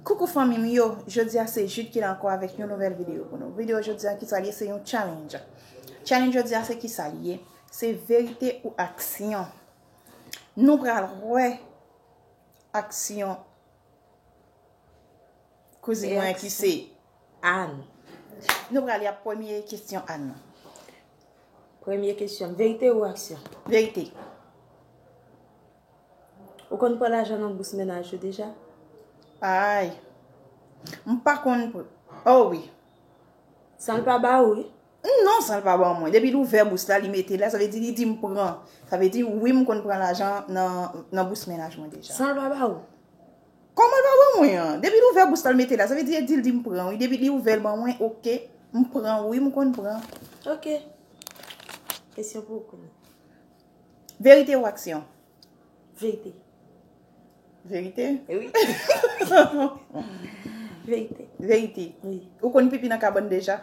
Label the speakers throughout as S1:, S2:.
S1: Coucou fanmi m yo, jodi a se Jude ki la ankò avèk yon nouvèl video pou nou. Video jodi a kisa li ye se yon challenge. Challenge jodi a se kisa li ye? Se verite ou aksyon. Nou pral wè aksyon kouzin mwen ki se Anne.
S2: Nou
S1: pral li a premye kesyon Anne nan.
S2: Premye kesyon, verite ou aksyon? Verite. Ou konn pran lajan nan bous mennaj yo deja? Aayy.
S1: M pa konn pr. Oh wi.
S2: San l pa ba ou wi? Non, san l pa
S1: ban mwen. Depi l ouvè bous la, li mete la, sa vle di li di m pran. Sa vle di wi m konn pran lajan nan bous mennaj mwen deja. San l pa ba ou?
S2: Kòman l pa
S1: ban mwen an? Depi l ouvè bous la, l mete la, sa vle di e di l di m pran wi. Depi li ouvè l ban mwen, ok. M pran wi, m konn pran. Ok.
S2: Kesyon pou ou kounye a.
S1: Verite ou aksyon? Verite. Verite? Wi.
S2: Verite. Verite? Wi.
S1: Ou konn pipi nan
S2: kabann
S1: deja?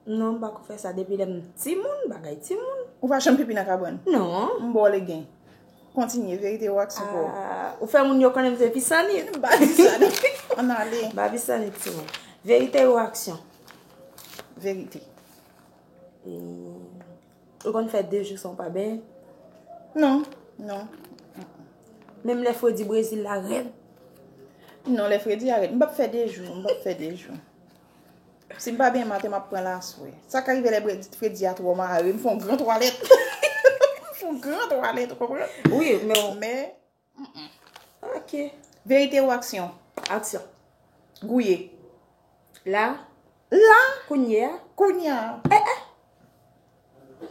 S1: Non,
S2: m pa ko fè sa depi lè m ti moun, bagay ti moun. Ou pa janm pipi nan kabann?
S1: Non. M ba w legen. Kontinye, verite ou aksyon pou ou? Aaa, ou fè moun yo
S2: konnen m se pisanit. Ba pisanit.
S1: An n ale. Ba pisanit ti moun.
S2: Verite ou aksyon?
S1: Verite. Eee.
S2: Ou konn fè 2 jou san w pa benyen? Non,
S1: non.
S2: Menm lè fredi Brezil la rèd? Non,
S1: lè fredi a rèd. M pap fè 2 jou, m pap fè 2 jou. Si m pa benyen maten, m ap pran laswè. Sa ka rive lè fredi a twò mare, m fè yon gran twalèt. M fè yon gran twalèt, ou konprann? Wi,
S2: men. Ok. Verite
S1: ou aksyon? Aksyon.
S2: Gouye. La? La!
S1: Kounye a? Kounye a! Eh eh!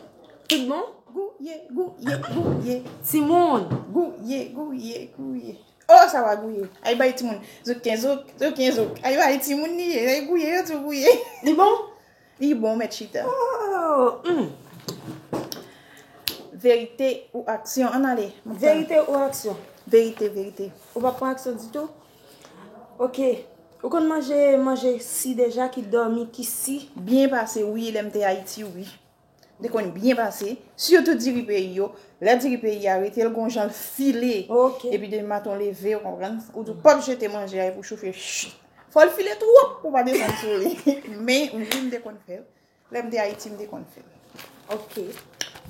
S2: Tout bon? Gouye, gouye,
S1: gouye. Timoun!
S2: Gouye, gouye,
S1: gouye. Oh, sa va gouye. Ay bay timoun. Zouken, zouk, zouken, zouk. Ay bay timoun li ye. Ay gouye, yo tou gouye. Li bon?
S2: Li bon met
S1: chita. Ooh humm. Verite ou aksyon ann ale. Verite ou aksyon.
S2: Verite verite.
S1: Ou pa pran aksyon
S2: ditou. Ok ou konn manje manje si deja ki domi ki si. Byen pase wi
S1: lem te ayiti wi. Li konn byen pase. Sitou diri peyi yo. Le diri peyi ya rete gon janl file. Ok. Epi depi
S2: maten ou leve
S1: ou konprann. Ou pap jete manje a epi ou chofe. Fò l file twòp pou pa desann sou li. Men, wi m te konn fè l. Lè m te Ayiti, m te konn fè l. Ok.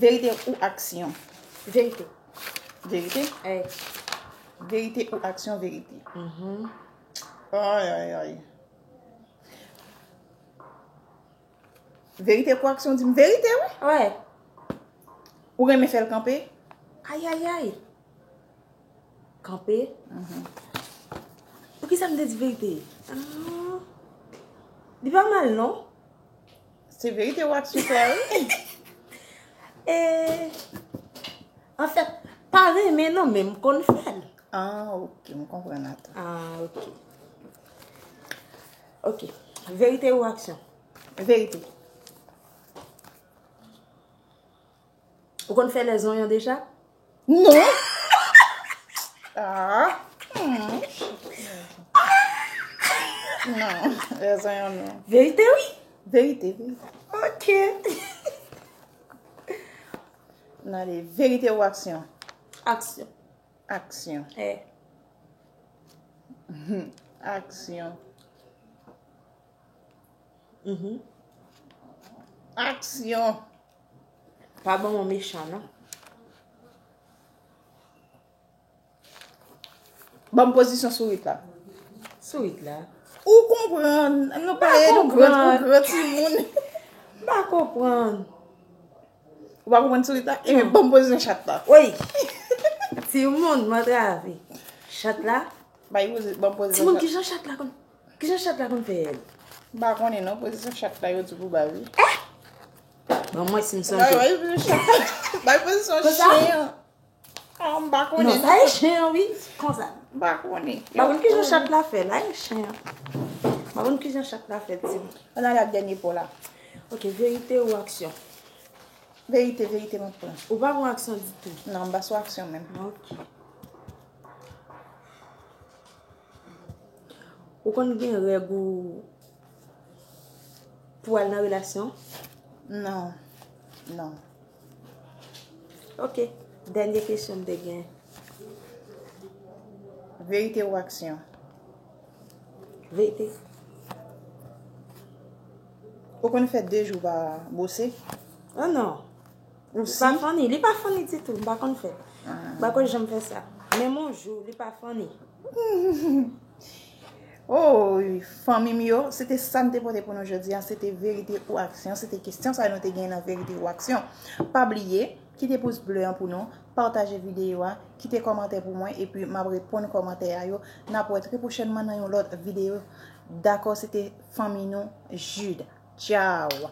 S2: Verite
S1: ou aksyon? Verite.
S2: Verite?
S1: Wi.
S2: Verite
S1: ou aksyon? Verite. Ayayay. Verite kwak son dim verite wi. Wè. Ou renmen fèl kanpe? Ayayay.
S2: Kanpe? Mhm. Poukisa m te di verite? Aah. Li pa mal non. Se
S1: verite wak son sa wi. Eeh.
S2: An fèt, pa renmen non men m konn fèl. Aah ok,
S1: m konprann ata. Aah ok.
S2: Ok. Verite ou aksyon? Verite. Ou konn fè lè zonyon deja? Non!
S1: Aah! Non, lè zonyon non. Verite ou?
S2: Verite.
S1: Ok. Nan ale, verite ou aksyon? Aksyon.
S2: Aksyon
S1: E. Aksyon Ih. Aksyon
S2: Pa ban mwen mechan non.
S1: Banm pozisyon sourit la. Sourit la.
S2: Ou konprann.
S1: Nou pa e nou gran ti moun. M pa
S2: konprann.
S1: Ou pa konprann sourit la? Ebyen banm pozisyon chat la. Woy!
S2: Timoun mwen trave. Chat la? Bay pozi, banm
S1: pozisyon chat. Timoun kijan chat la
S2: konn, kijan chat la konn fè èl? M pa konnen non,
S1: pozisyon chat la yo di pou bay wi. Eh!
S2: Banm wè sim sonje.
S1: Bay pozisyon chat la. Bay pozisyon chyen an. Konsa? Oh m pa konnen. Non sa e chen an wi.
S2: Konsa. M pa konnen. M pa
S1: konnen ki jan chat la
S2: fèt la e chen an. M pa konnen ki jan chat la fèt di m. An n ale ak dènye po
S1: la. Ok verite
S2: ou aksyon.
S1: Verite verite m ap pran. Ou pa pran aksyon ditou.
S2: Non m pa sou aksyon menm.
S1: Ok.
S2: Ou konn gen règ ou pou al nan relasyon? Non,
S1: non.
S2: Ok, dènye kesyon m te gen. Verite ou
S1: aksyon?
S2: Verite.
S1: Ou konn fè 2 jou pa bwose? Oh non.
S2: Ou si. Pa
S1: funny,
S2: li pa
S1: funny
S2: ditou, m pa konn fè. M pa konn janm fè sa. Menm on jou, li pa funny.
S1: Ooyy fanmi m yo, se te sa m te pote pou nou jodi an, se te verite ou aksyon, se te kesyon sa nou te gen nan verite ou aksyon. Pa bliye, kite pous ble an pou nou, pataje videyo a, kite kòmantè pou mwen epi m ap reponn kòmantè a yo. N ap wè trè pwochènman nan yon lòt videyo. Dakò se te fanmi nou Jude. Tchaww.